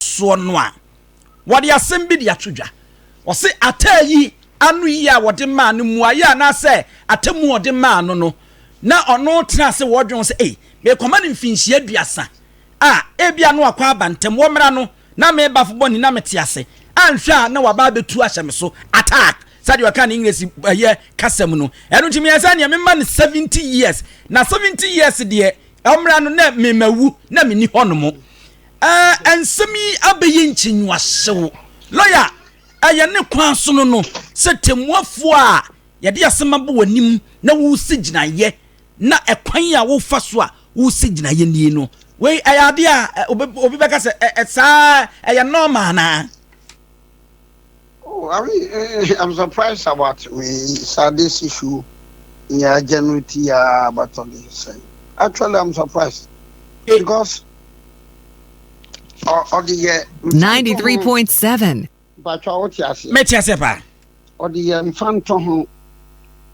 soɔ no a, wɔde asɛm bi de ato dwa. Wɔse ataa yi ano yie a wɔde maa no, mmuaeɛ anaasɛ atemmuo a wɔde maa no no, na ɔno tena ase wɔ dwene ho sɛ, Ei, merekɔma no mfinhyia aduasa a, ebia na wakɔ aba ntɛm. Wɔ mmara no, na me ba bɔ ni na mete ase. Anhwɛ a na waba abɛtu ahyɛ me so, attack, sɛdeɛ wɔka no Englesi ɛyɛ kasa mu no. Ɛno nti meyɛɛ sɛ neɛ memma no seventy years. Na seventy years deɛ, mmara no na memawu, na menni hɔnom. Ɛɛ nsɛm yi abɛyɛ nkyinwuasew. Lɔya a ɛyɛ ne kwan sono no sɛ temmuafoɔ a yɛde asɛm abɔ w'anim na woresi gyinaeɛ na ɛkwan a wofa so a woresi gyinaeɛ nie no, wei ɛyɛ adeɛ a obi bɛka sɛ ɛ, ɛ, saa ara, ɛyɛ normal anaa? Oh Awi I'm surprised about me Sade Sishu ne agya no ti a bɛtɔ de sɛ actually I'm surprised because ɔde yɛ 93.7 Batwa wote aseɛ mɛte aseɛ paa ɔde yɛ mfa nto ho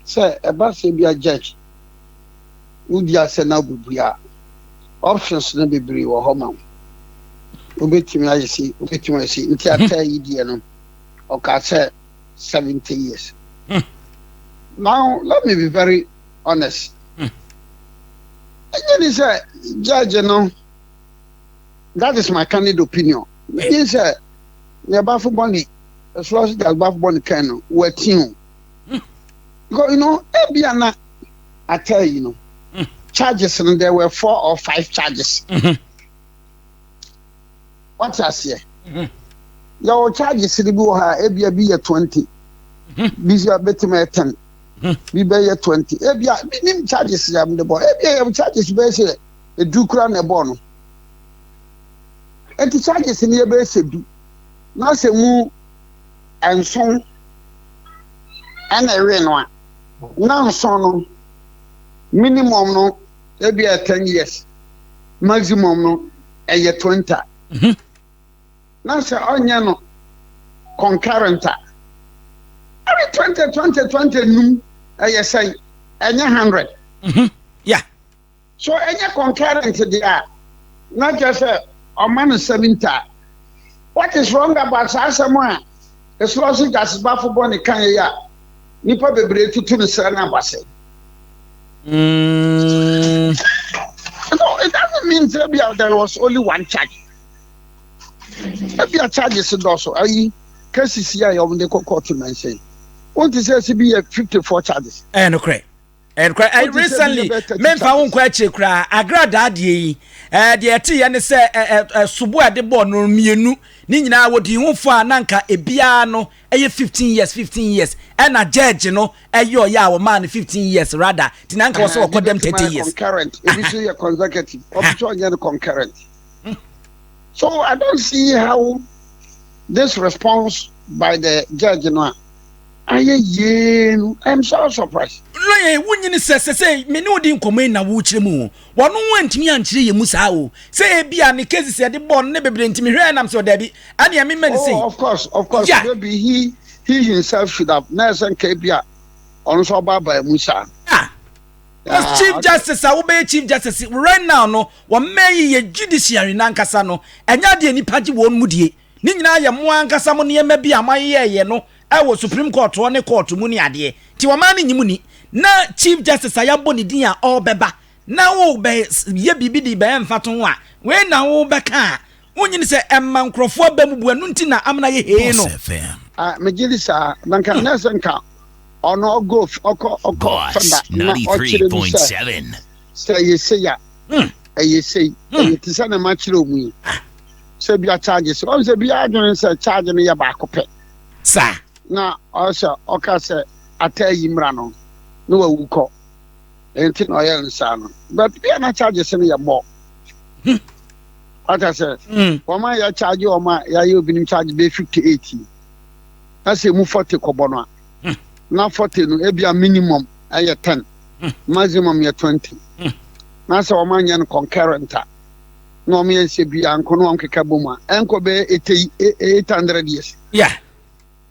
sɛ ɛba sɛ bia judge Wodua sɛ na wobebue a, options no bebree wɔ hɔ ma wo. Wobetumi ayɛ sei, wobetumi ayɛ sei. Nti ataa yi deɛ no, ɔkaa sɛ seventy years. Hmm. Now let me be very honest. Hmm. Ɛnyɛ ni sɛ judge no, that is my candid opinion. Ɛnyɛ sɛ nea bafo bɔ ne ɛsoa so judge bafo bɔ ne kan no, wɔatin o. Because you know, ebia na ataa yi no charges no there were four or five charges. Wate aseɛ? Yɛwɔ charges no bi wɔ ha ebia bi yɛ twenty, bi sɛ bɛtumi yɛ ten, bi bɛyɛ twenty. Ebia bi nim charges yɛ de bɔ, ebia yɛ charges bɛyɛ sɛ edu kura na ɛbɔ no. Eti charges no yɛ bɛyɛ sɛ du na sɛ mu. nson na ɛwee no a, na nson no minimum no ebi yɛ ten years, maximum no ɛyɛ twenty. Mhm. Na sɛ ɔnyɛ no concurrent a, ɛne twenty twenty twenty num ɛyɛ sɛn? Ɛnyɛ hundred. Mhm. Yeah. So ɛnyɛ concurrent deɛ a na kyerɛ sɛ ɔma no seventy a? What is wrong about saa asɛm a Eslɔsi Gyasibafo bɔ ne kan yi a nnipa bebree tutu no srɛ no aba sɛ? Mm. No, it doesn't mean sɛ ebia there was only one charge. Ebia charges dɔɔso ayi cases yi a wɔde kɔ court no nhyɛ. Wonte sɛ ɛsi bi yɛ fifty four charges. Ɛyɛ nokorɛ. ɛnokorɛ eh, recently memfa wo nkɔ akyire koraa agradaa deɛ yi eh, deɛ ɛteeɛ ne sɛ eh, eh, sobo a ɛde bɔɔ no mmienu ne nyinaa wɔdii ho fo a na nka ebiara no ɛyɛ 15 years 15 years ɛna gyɛɛgye no ɛyɛ ɔyɛ a wɔmaa no 15 years rather nti na nka wɔ sɛ wɔkɔ dɛm 30 years concurrent ebi so yɛ consecutive ɔbi so ɔnyɛ no concurrent so i don't see how this response by the judge no a Ayɛ yie no I'm so surprised. Lɔya yi wonyi ne sɛ sɛsɛi me ne wo di nkɔmmɔ yi na wokyerɛ mu o. Wɔno ho antumi ankyerɛ yɛn mu saa o. Sɛ ebia ne cases a yɛde bɔɔ no ne bebree nti mehwɛɛ nam sɛ o daabi ɛneɛ memmɛ no sei. Oh of course of course yeah. maybe he he himself should have na ɛsɛ nka ebia ɔno nso ɔbaabaa mu saa. Yeah. Because yeah, chief okay. justice a wobɛyɛ chief justice right now no wɔmmɛn yi yɛ judiciary nankasa no ɛnyɛ adeɛ nipa gye wɔn mu die. Ne nyinaa yɛ mo ankasa mo nneɛma bi a moayeyɛɛyɛ no wɔ Supreme Court hɔ ne Court mu ne adeɛ. Nti ɔman no nnye mo nni. Na Chief Justice a yɛabɔ ne din a ɔrebɛba na worebɛ yɛ biribi de bɛyɛ mfatoho ho a, wei na worebɛka a, wonnye nni sɛ ɛmma nkorɔfoɔ aba mu bu, ɛno nti na Amena yɛ hee no. Ah, megye di saa. Na nka na ɛsɛ nka ɔno ɔgo ɔkɔ ɔkɔ fada na ɔkyerɛ mu sɛ sɛ ɛyɛ sei a ɛyɛ sei, ɛyɛ te sɛ na makyerɛ ɔmu yi. sɛ bia charge sɛ ɔn sɛ bia adwene sɛ charge no yɛ baako pɛ sa na ɔsɛ ɔka sɛ ata yi mmra no na wawu kɔ ɛnti na ɔyɛ nsa no but bia na charge sɛ no yɛ mɔ ata sɛ wɔn a yɛ charge wɔn a yɛayɛ obinom charge bɛ 58 yi na sɛ mu 40 kɔbɔ no a na 40 no ebia minimum ɛyɛ 10 maximum yɛ 20 na sɛ wɔn anyɛ no concurrent a na wɔn yɛ nsɛ bi anko na wɔn keka bom a ɛnkɔ bɛyɛ eight eight hundred years. yeah.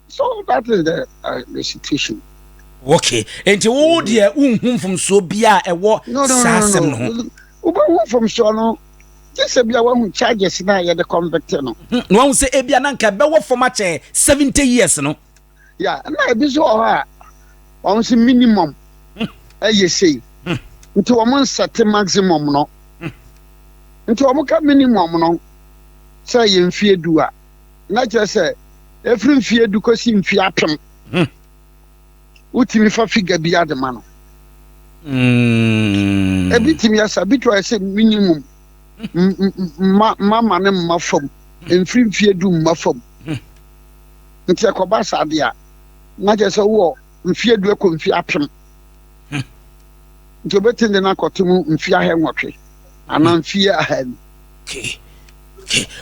so that is the uh, the situation. okay nti wo deɛ wonhu mfomsoɔ bi a ɛwɔ saa asɛm no ho. wobɛhu mfomsoɔ no gye sɛ bia woahu charges no a yɛde convict no. Hmm, na wahu sɛ ebia na nka ɛbɛwɔ fam akyɛ seventy years no. ya na ebi nso wɔ hɔ a wɔn sɛ minimum ɛyɛ hmm. sei hmm. nti wɔn nsɛte maximum no hmm. nti wɔn ka minimum no sɛ yɛ mfie du a na kyerɛ sɛ efiri mfie du kɔsi mfie apem wotumi fa figa bi ade ma no ebi tumi asa bi to ayɛ sɛ minimum mma mma ne mma fam mfiri mfie du mma fam. Ntsi ɛkɔba saa de a, na kyerɛ sɛ ɔwɔ mfe eduo kɔ mfe apem. Ntsi obetsen dɛ no akɔto mu mfe ahɛnwɔtwe anaa mfe ahaanu.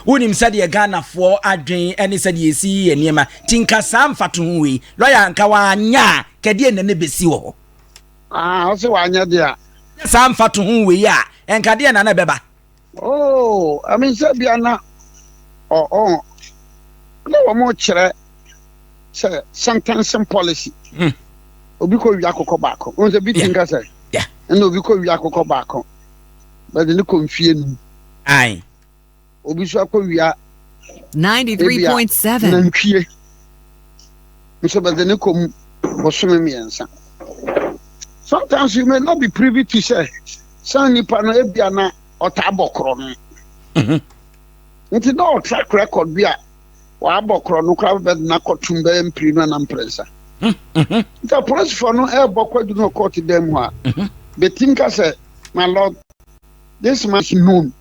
Wonim sɛdeɛ Ghanafoɔ adwen ne sɛdeɛ yɛsi yi yɛ nneɛma nti nka saa mfatoho wei lɔya nka wanyɛ a kɛdeɛ nna ne bɛsi wɔ hɔ. Ah, ɔsɛ wanyɛ deɛ a. Nyɛ saa mfatoho wei a nka deɛ nna ne bɛba. Oh, I mean, sɛ bia na ɔ ɔ na wɔn kyerɛ sɛ sentencing policy. Hmm. Obi kɔ wia akokɔ baako. Wɔn sɛ bi ti nka sɛ. Ɛna obi kɔ wia akokɔ baako. Bɛde ne kɔ nfie num. Ayi. Obi so akɔ wia. Ninety three point seven. Nantwie. Nso bɛde ne kɔ mu bɔsɔmi mmiɛnsa. Sometimes you may not be privy to say. Saa nipa no ebia na ɔtaa bɔ korɔ no. Mhm. Nti na ɔtrack record bi a wɔabɔ korɔ no koraa bɛdena kɔtom bɛyɛ mpiri no na mprɛnsa. Mhm, mhm. Nti apolisifoɔ no ɛrebɔ kwadu no kɔɔto dan mu a, Mhm. bɛtim ka sɛ, my lord, this man is known.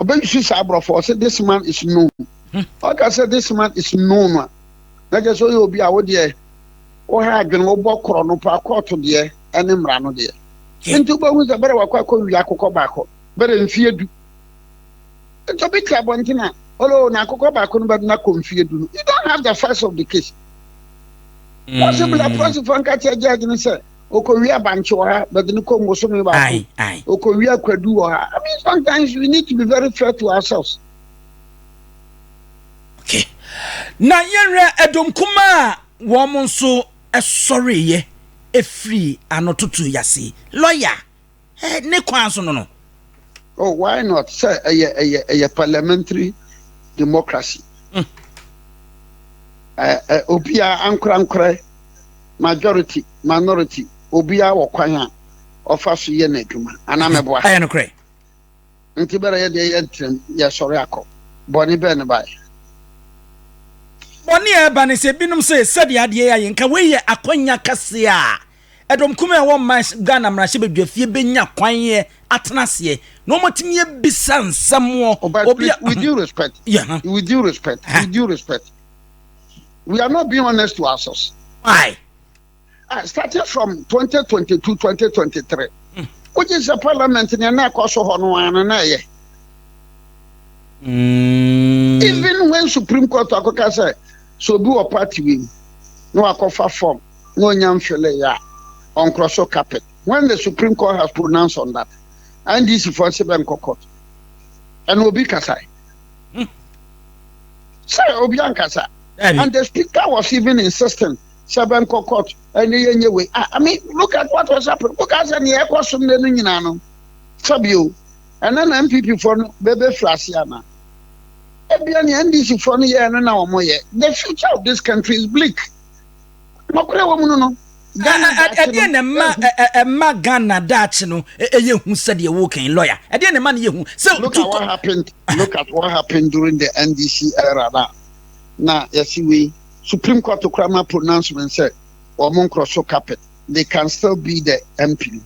Ɔbɛhwehwɛ saa aborɔfo ɔsɛ this man is known. Mhm. Ɔka sɛ this man is known a, na kyerɛ sɛ ɔyɛ obi a wodeɛ woha adwene wobɔ korɔ no paa kɔɔto deɛ ne mmara no deɛ nti wobɛhu sɛ bɛrɛ wakɔ akɔ wia akokɔ baako bɛrɛ mfie du nti obi te abɔnten a olo na akokɔ baako no bɛdena kɔ mfie du no you don't have the facts of the case possible a prɔsifoɔ nka kyerɛ judge no sɛ okowia bankye wɔ ha bɛde no kɔ mbosome baako okowia kwadu wɔ ha i mean sometimes we need to be very fair to ourselves okay na yɛnhwɛ ɛdom kuma a wɔn nso sɔreeɛ firii anototo yi ase. Lɔya eh ne kwan so no no. Oh why not sɛ ɛyɛ ɛyɛ ɛyɛ parliamentary democracy. Mm. Eh, eh, obiara ankorankorɛ majority minority obiara wɔ kwan a ɔfa so yɛ n'adwuma anaa mɛboa. Ɛyɛ nokorɛ. Enti bere a yɛde yɛn ntrɛm yɛsɔre akɔ, bɔne bɛn na ɛbae? Bɔne a ɛba ne sɛ ebinom se sɛdeɛ adeɛ yɛ ayɛ, nka wei yɛ akwannya kɛseɛ a ɛdɔm kumaa a ɛwɔ mma Ghana mmarahyɛbadwafie bɛnya kwan atena aseɛ na wɔatumi abisa nsɛm wɔ Oh, but obi a please, with due respect, Yeah, huh? with due respect, Huh? with due respect, we are not being honest to ourselves. Why? Ah, starting from 2022, 2023. Wogye sɛ parliament nea na ɛkɔ so hɔ no ara no na ɛyɛ. Mm. Even when Supreme Court akɔka sɛ sɛ obi wɔ party wei mu na wakɔfa form na onya mfele yɛ a ɔnkorɔ so carpet. When the Supreme Court has pronounced on that, NDC fo se bɛnkɔ court. Ɛna obi kasae. Hmm. Sɛ obi ankasa. And the speaker was even insisting sɛ bɛnkɔ court ɛne yɛnyɛ wei ah, I mean look at what was happening woka sɛ neɛ ɛkɔ so nnɛ no nyinaa no fabio ɛna na npp foɔ no bɛbɛfiri ase ana ebia neɛ ndc foɔ no yɛɛ no na wɔyɛ the future of this country is bleak nɔkorɛ wɔ mu no no ɛdeɛ na ɛma ɛma ghana daakye no ɛyɛ hu sɛdeɛ wokan lawyer ɛdeɛ na ɛma no yɛ hu sɛ look at what happened look at what happened during the ndc era na na yɛsi wei Supreme Court koraa ma pronouncement sɛ wɔn nkorɔ so carpet, they can still be the MP no.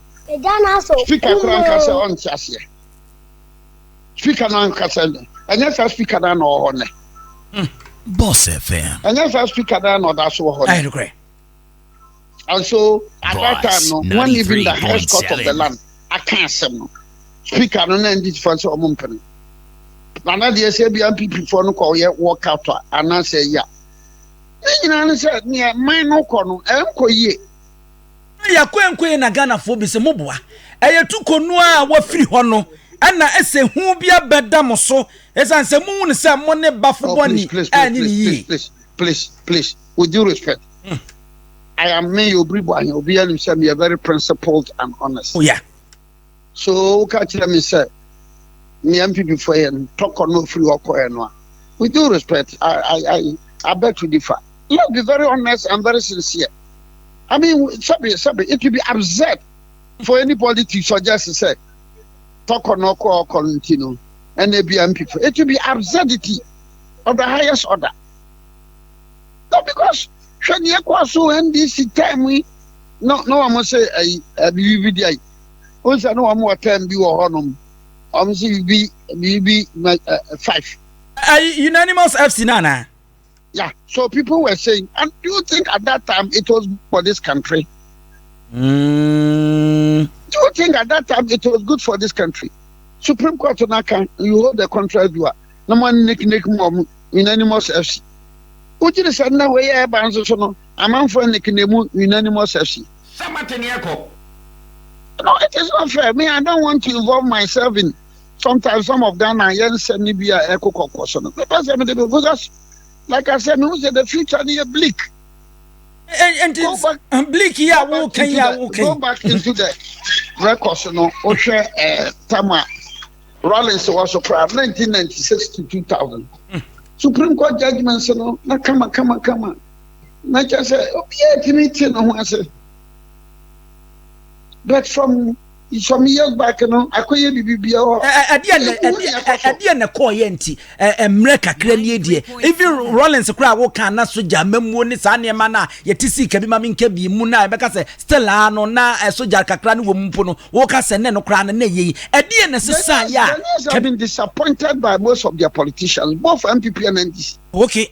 Speaker koraa nka sɛ ɔnte aseɛ. Speaker no anka sɛ ɛnyɛ saa speaker no na ɔwɔ hɔ nnɛ. Hmm. Boss FM. Ɛnyɛ saa speaker no na ɔda so wɔ hɔ nnɛ. And so at that time no, when even the highest court of the land aka asɛm no, speaker no na ndi tifa sɛ ɔmo mpene. Na na deɛ sɛ ebia NPP foɔ no kɔyɛ walk out a anaasɛ ɛyɛ a, ne nyinaa ne sɛ nea man no kɔ no ɛnkɔ yie. Yakoenkoe na Ghanafoɔ bi sɛ mo boa. Ɛyɛ tu kɔ nu a wafiri hɔ no ɛna ɛsɛ hu bi abɛda mo so ɛsiane sɛ mohu no sɛ mo ne bafo bɔne ɛnyɛ ne yie. with due respect mm. i am me yɛ obiri bɔ ahɛ obi anim sɛ meyɛ very principled and honest oh, yeah. so woka kyerɛ me sɛ nea mpp fo yɛ no tɔkɔ no ofiri hɔ kɔɛ no a with due respect i i i i beg to differ let's be very honest and very sincere i mean sɛbi sɛbi it will be absurd for any politics or just say tɔkɔ no ɔkɔ ɔkɔ no nti no ɛna ebi a mpp it will be absurdity of the highest order. No because hwɛ nea ɛkɔɔ so NDC term yi no na wɔn sɛ ɛyi ɛbibi bi di ayi. Wɔn sɛ na wɔn wɔ term bi wɔ hɔnom. Wɔn sɛ bibi bibi ɛ five. Ɛyi unanimous FC na na. Yeah, so people were saying, and do you think at that time it was for this country? Mm. Do you think at that time it was good for this country? Supreme Court na kan you hold the contract you are. No man nick nick mom Unanimous FC. Wogye di sɛ nna wei a ɛreba nso so no, amanfo anni kene mu Unanimous FC? Samate ne ɛkɔ. No, it is not fair. Me, I don't want to involve myself in sometimes some of Ghana yɛ nsɛm no bi a ɛkɔ kɔkɔ so no. Mepɛ sɛ mede me because like I said, mehu sɛ the future no yɛ bleak. And Go back, uh, bleak yi a woka yi a woka go back into the records no wohwɛ eh, tama Rawlings wɔ so koraa nineteen ninety six to two thousand hmm. supreme court judgement no na kama kama kama na kyɛ sɛ obiara tumi te ne ho ase but from some years back no akɔyɛ biribi biara hɔ. ɛdeɛ na ɛdeɛ na kɔɔ yɛ nti mmerɛ kakra nie deɛ even rollins koraa woka na sogya mamuo ne saa nneɛma no a yɛte sii ka bi ma menka bi mu no a yɛbɛka sɛ still a no na sogya kakra no wɔ mu mpo no woka sɛ nɛ no koraa no na ɛyɛ yi ɛdeɛ na ɛsesa yɛ a Ghanaians have been disappointed by most of their politicians both MPP and NDC okay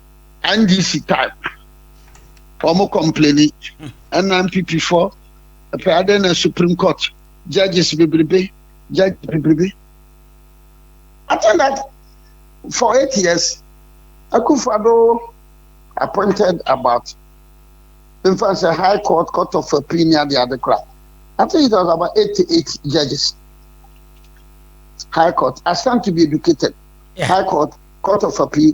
NDC type wɔn kɔmpleni ɛna NPP fɔ ɛpɛ adɛ na Supreme Court judges bebrebe judge bebrebe I think that for eight years Akufo-Addo appointed about in fact sɛ High Court Court of Appeal ni ade ade kora I think it was about eighty eight judges High Court I stand to be educated High Court Court of Appeal.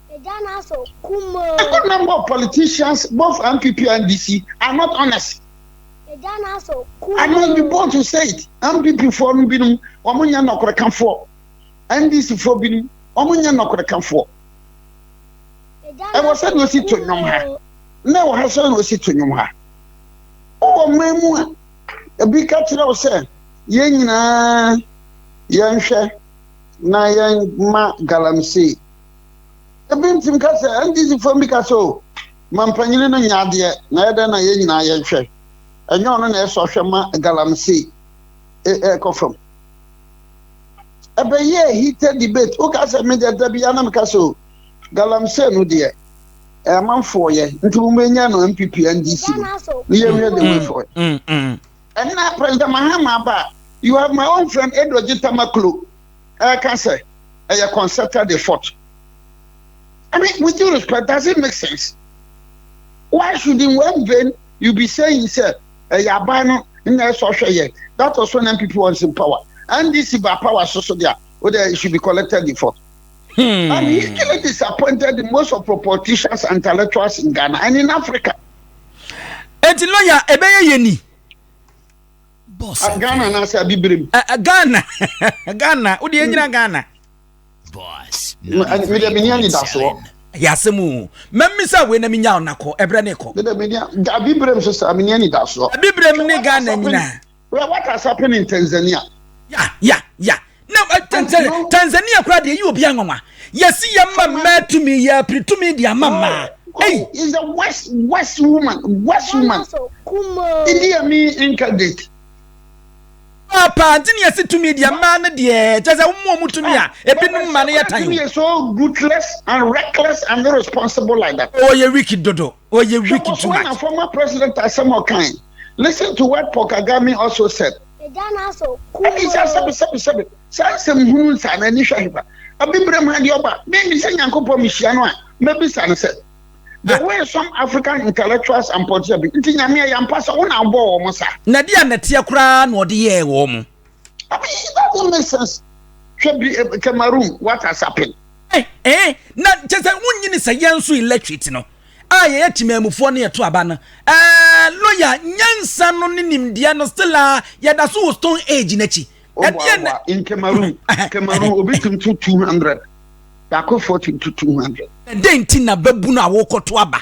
Ɛkɔ na more politicians both MPP and NDC are not honest. Ana you both to say it MPP foɔ no binom wɔn nyɛ nɔkorekafoɔ NDC foɔ binom wɔn nyɛ nɔkorekafoɔ. Ɛwɔ sɛ na osi to nnwom ha na ɛwɔ ha sɛ na osi to nnwom ha. Wowɔ mmaa mu a ebi ka kyerɛ wo sɛ yɛn nyinaa yɛnhwɛ na yɛn ma galamsey. ebi ntumi ka sɛ ndc fam bi ka sɛ o mampanyini no nyɛ adeɛ na ɛyɛ dɛn na yɛn nyinaa yɛnhwɛ ɛnyɛ ɔno na ɛsɔ hwɛ ma galamsey ɛkɔ fam ɛbɛyɛ heated debate woka sɛ me deɛ da bia na meka sɛ o galamsey no deɛ ɛmanfoɔ yɛ nti mo bɛnya no mpp ndc no ne yɛhwɛ the way for it ɛnna president mahama aba you have my own friend edo gye tamaklo ɛka sɛ ɛyɛ concerta de forte. I mean with due respect does it make sense? Why should in one vein you be saying sɛ ɛyɛ aban no na ɛsɔ hwɛ yɛ that was when NPP was in power NDC ba power so so deɛ o deɛ it should be collected de forte. Hmm. I'm hugely disappointed in most of the politicians and intellectuals in Ghana and in Africa. Eti lawyer ebeye yeni. Boss A Ghana na asa Abibirem. A, a Ghana, Ghana, wode yɛnyina Ghana. Boss, mede meni anidasoɔ. Yɛ asɛm o, mɛmi sɛ wei na menya wo nakɔ, ɛberɛ ne kɔ. Mede meni, Abibirem so saa, meni anidasoɔ. Abibirem ne Ghana nyina. Wata sapene in Tanzania. Ya, ya, ya, na tanzania koraa deɛ yi obi anwanwa yɛsi yɛ mma mmaa tumi yɛ apiri tumi de ama mmaa Hey. is a west west woman west woman idi amin incarnate papa nti ne yɛsi tumi deɛ mmaa no deɛ kyɛ sɛ wɔn a wɔn tumi a ebinom mma no yɛ tan o. so ruthless and reckless and irresponsible like that. ɔyɛ oh, wiki dodo. ɔyɛ weak too much. Hwɛ former president asɛm ɔkae. Listen to what Paul Kagame also said. Ɛne sɛ sɛbe sɛbe sɛbe saa nsɛm hunu nsa na ani hwɛ hefa. Abibirem ha deɛ ɔba me me sɛ Nyankopɔn mehyia no a mɛbisa no sɛ the ah. way some African intellectuals and politicians nti Nyame ɛyɛ ampa sɛ wo na abɔ wɔn saa. Na deɛ nɛteɛ koraa na ɔde yɛɛ wɔn. I mean, it doesn't make sense. Hwɛ bi eh, Cameroon, what has happened? Eh, eh, na kyɛ sɛ wonyini sɛ yɛn nso electorate no a yɛyɛ temamufoɔ no yɛto aba no eh, lawyer nyansa no ne nimdeɛ no still a yɛda so wɔ stone age no akyi ɛdeɛ na in Cameroon Cameroon obi tum to 200 baako 40 to 200 ɛdɛn nti na babu no a wokɔto aba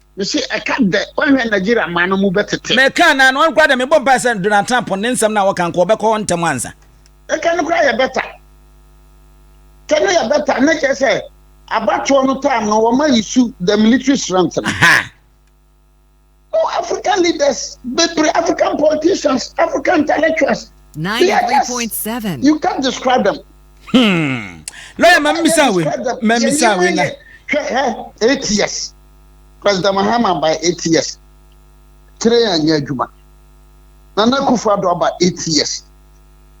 Mese ɛka dɛ wɔnhwɛ Nigeria man no mu bɛtete. Mɛka na no koraa dɛ mebɔ mpae sɛ Donald Trump ne nsɛm no a wɔka nka ɔbɛkɔ hɔ ntɛm ansa. Ɛka no koraa yɛ bɛta. Kɛ no yɛ bɛta ne kyerɛ sɛ abatoɔ no time no wɔn ayi su the military strength no. No African leaders bebree African politicians African intellectuals. They are just you can't describe them. Hmm. Lọ́yà máa ń mísà wé máa ń mísà wé náà. Hwẹ́ hẹ́ eight years. President Mahama by eight years train anyɛ adwuma Nana Akufo Addo aba eight years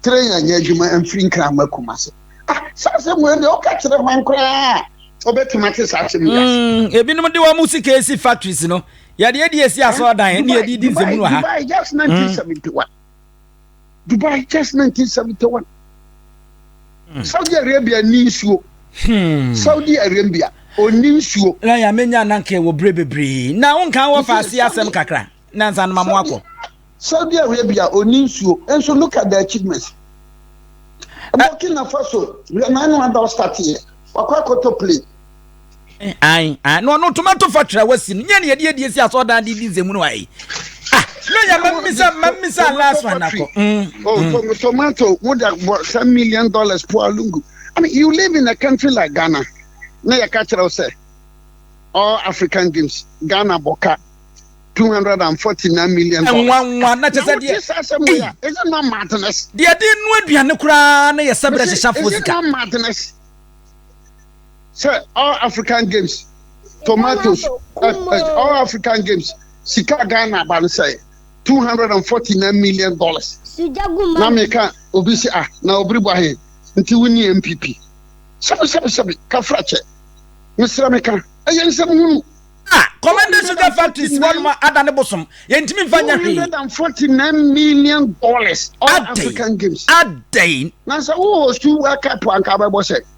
train anyɛ adwuma mfiri nkran ma Kumase ah saa asɛm wei deɛ ɔka kyerɛ hwan koraa a ɔbɛtumi ate saa asɛm yi ase. Mm, ebinom de wɔn sika esi factories no yɛde adi esi asɔɔdan ne yɛde di nsɛmunu ha. July just nineteen seventy one. Dubai just 1971. Hmm. Saudi Arabia ni nsuo. Hmm. Saudi Arabia ɔni nsuo. Na yà mí nya nanka wɔ bere bebree na wọn kàn wɔ fa ase asɛm kakra na nsa anoma mu akɔ. Saudi Arabia ɔni nsuo nso look at the achievements. Eh. Burkina Faso yɛ n'anu ada ɔstate yɛ wakɔ akɔtɔ plane. na ɔno toma to fa twerɛ wasi no nyɛ ne yɛde adie si asɔ dan de di nsɛmu no wa yi ah na yɛ mamisa mamisa last one akɔ mm, oh, mm. tomato wode abɔ sa million dollars po alungu I mean, you live in a country like ghana na yɛka kyerɛ wo sɛ all african games ghana bɔka 249 million dollars. Nwa nwa na kyesɛ deɛ. Is it not madness? Deɛ de nu aduane koraa na yɛ sɛbrɛ hyehyɛ afo sika. Is it not madness? sɛ all african games tomatoes all african games sika ghana ba no sɛ two hundred and forty nine million dollars na meka obi sɛ ah na obiri bɔ ahe nti wonni npp sɛbi sɛbi sɛbi kafra kyɛ mesrɛ meka ɛyɛ nsɛm hunu ah, commander sugar factory si hɔ nom ada ne bosom yɛntumi mfa nyɛ hwee 149 million dollars all african games adɛn na sɛ wohostu world cup anka bɛbɔ sɛ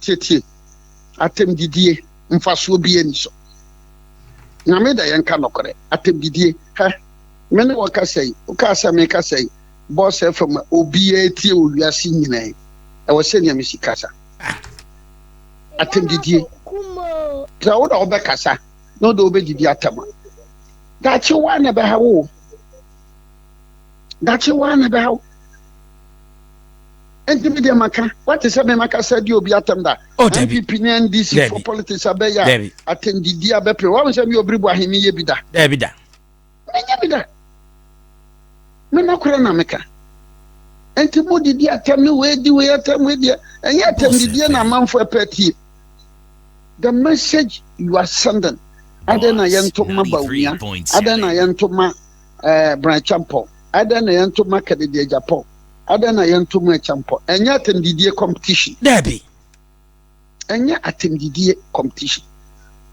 Tietie, atɛmdidie mfasoɔ biaa nni so. Nyame dɛ yɛnka nɔkorɛ, atɛmdidie hɛ, me ne wo kasa yi, wo kaa sɛ me kasa yi, Boss FM a obiaa tie wɔ wiase nyinaa yi, ɛwɔ sɛ Nyame si kasa. Atɛmdidie, sɛ wo na wo bɛkasa na wo de wo bɛdidi atɛm a, daakye wo ara na ɛbɛha wo o, daakye wo ara na ɛbɛha wo. Nti mi deɛ maka wate sɛ mema kasa di obi atɛm da oh, NPP ne NDC for politics abɛyɛ a atɛmdidi abɛpere wɔn sɛ mi obiri bu ahe mi yɛ bi da dɛbi da menyɛ bi da me nɔkorɛ na meka nti mo didi atɛm ne wei di wei atɛm wei deɛ ɛnyɛ atɛmdidie na amanfo ɛpɛ tie the message you are sending adɛn na yɛnto ma bawumia adɛn na yɛnto ma ɛɛ eh, branchampɔ adɛn na yɛnto ma kadidi agyapɔ Adɛn na yɛntɔ mu ɛkyɛ mpɔ? Ɛnyɛ atɛmdidie competition. Daabi. Ɛnyɛ atɛmdidie competition.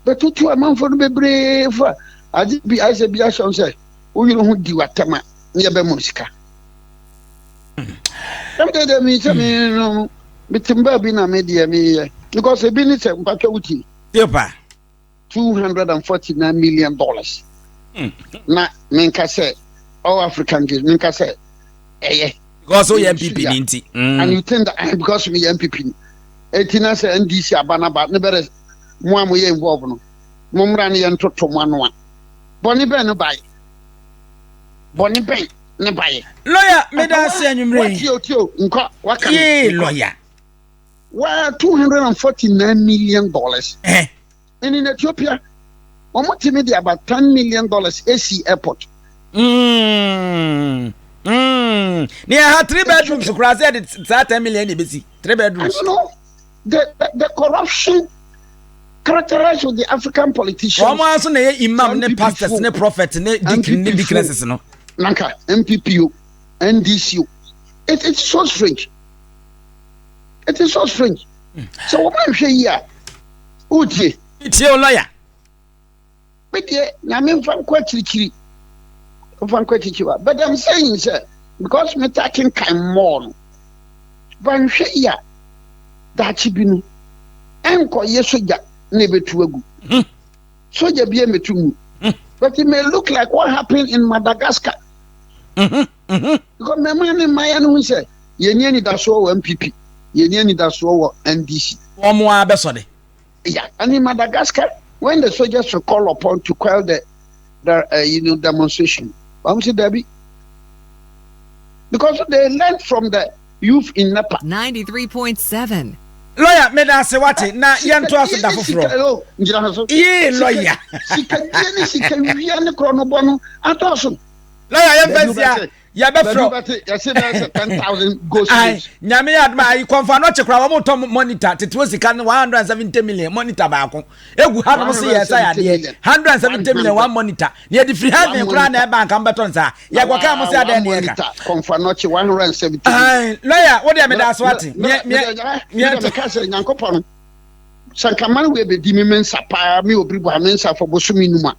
Bɛtutu amanfoɔ no bebree fo a, agye bi ayɛ sɛ bi ahyɛ wɔn sɛ wo yere ho di w'atɛm a ne yɛbɛma sika. Ɛm deɛ deɛ mi sɛ mi no metem baabi na me deɛ meyɛ because ebi ne sɛ mpatwa wo tie. Yepa. two hundred and forty nine million dollars hmm. na menka sɛ all african games menka sɛ ɛyɛ because woyɛ npp ni nti hmm. and you think that eh, because meyɛ npp ni eti na sɛ ndc aba na ba ne bɛrɛ mo a moyɛ involve no mo mmra no yɛ ntoto mo ano a bɔne bɛn no baeɛ bɔne bɛn ne baeɛ lɔya meda ase anwummerɛ yi yee lɔya Where two hundred and forty nine million dollars. Eh. And in Ethiopia, wɔn ti mi di about ten million dollars esi airport. Mm. Mm. Ni ɛha three bedrooms kura sɛ ɛde saa ten million de besi three bedrooms. And you know the the, the corruption characterized with the African politicians. Wɔn aso na yɛ imam ne pastors ne prophet ne deacon ne deaconesses no. Nanka MPP o, NDC o, it it's so strange. it is so strange sɛ wɔn anhwɛ yi a wotie tie o lɔya me deɛ nyame mfa nkɔ akyirikyiri mfa nkɔ akyirikyiri wa but i'm saying sɛ because me ta kenkan mmɔɔ no banhwɛ yi a daakye bi no ɛnkɔyɛ sogya na ɛbɛtu agu hmm. sogya bi ɛmɛtu mu hmm. but it may look like what happened in madagascar mm -hmm. Mhm. Because mmɛma ne mmaayewa no hu sɛ yɛnni anidasoɔ wɔ MPP, yɛnni anidasoɔ wɔ NDC. Wɔn mo ara bɛsɔ de. Yeah, and in Madagascar, when the soldiers were called upon to quell the, the uh, you know, demonstration, I'm saying, Debbie, because they learned from the youth in Nepal. 93.7. lɔya meda ase wate na yɛntoa so da foforɔ yee lɔya sikadie ne sikawia ne korɔ no bɔ no adɔɔso na yɛayɛ mfɛnsi a yɛbɛfrɛ nyame yɛ adoma ayi kɔmfa no ɔkye koraa wɔmotɔ monitor teteɔ sika no 170 million monitor baako ɛgu ha nom se yɛ ɛsa yadeɛ 170 million one monitor na yɛde firi heaven koraa na ɛba nka mbɛtɔ nsa yɛkɔka mo se adɛn ne yɛka lɔya wodeɛ meda so ate sɛ nka mane wei bɛdi me mensa paa me ɔbiri bɔ a mensa fɔ bosome numa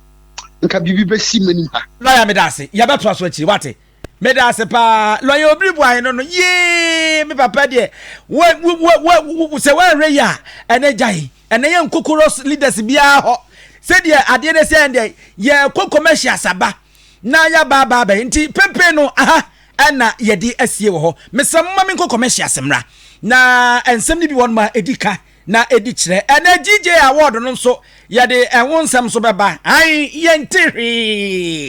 nka biribi bɛsi m'anim ha. Lɔya meda ase, yɛbɛtoa so akyiri wate. Meda ase paa lɔya obiri buae no no yee me papa deɛ sɛ woanhwɛ yi a ɛnɛ gyae ɛnɛ yɛ nkokoro leaders biara hɔ sɛdeɛ adeɛ no sɛ ɛndeɛ yɛkɔ commercials aba na yɛabaabaa bɛyɛ nti pempen no aha ɛna yɛde asie wɔ hɔ mesɛ moma me nkɔ commercials mmra na nsɛm no bi wɔn ma ɛdi ka na ɛdi kyerɛ. Ɛnɛ GJ award no nso yɛde ɛho nsɛm nso bɛba. Ae, yɛnte hwee.